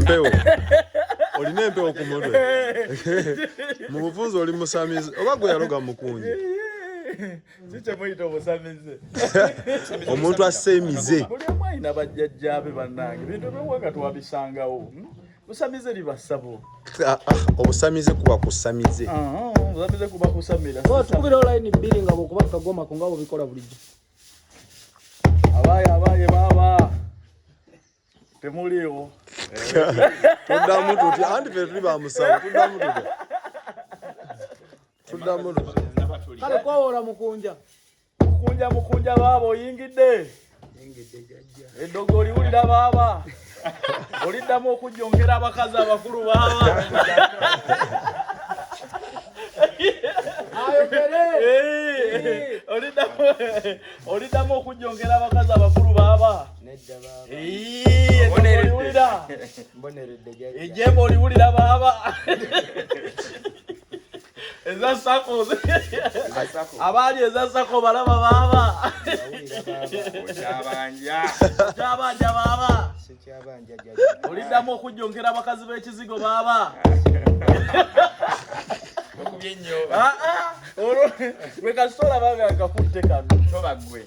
mpewo olina empewo ku mutwe mu bufunzi oli musamizi oba gwe yaloga mukunji omuntu assa emize buli omu alina bajjajjaabe bannange bintu ebyowanga twabisangawo hmm? busamize libasabo ah, ah, obusamize kuba kusamize ah, obusamize kuba kusamira tukubira olayini bbiri nga bwekuba kagoma ku nga bubikola bulijjo abaye abaye baba temuliiwo tuddamu tutya anti fe tuli bamusawo tuddamu tutya tuddamu tutya kale kwawola mukunja mukunja mukunja baaba oyingidde eddogo oliwulira baaba oliddamu okujjongera abakazi abakulu baaba oliddamu okujjongera abakazi abakulu baaba nedda baaba oliwulira mboneredde ejembo oliwulira baaba eza sako abaali eza sako balaba baaba okyabanja okyabanja baaba oliddamu okujjonkera abakazi b'ekizigo baaba okubye nnyo ah, ah. olwo lwe kasita olaba nga kakutte kano toba gwe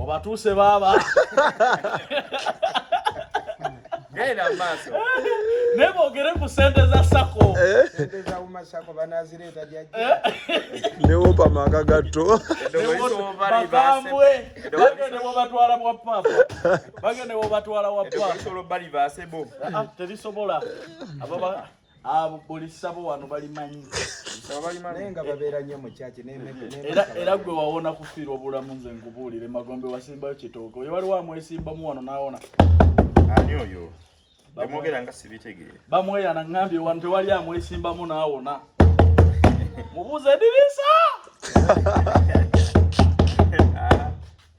obatuuse baaba naye boogere ku sente za sako newopa amaka gatto bagambwe bagende bobatwala bwa papa bagende bobatwala wa papa ah, ah, terisobola abo buli ssabo wano balimanyi era gwe wawona kufiirwa obulamu nze nkubuulire magombe wasimbayo kitooke oyo waliwo amwesimbamu wano nawona ani oyo bamwogera nga sibitegeere bamweyana ngambye wano tewali amwesimbamu nawona mubuuze edirisa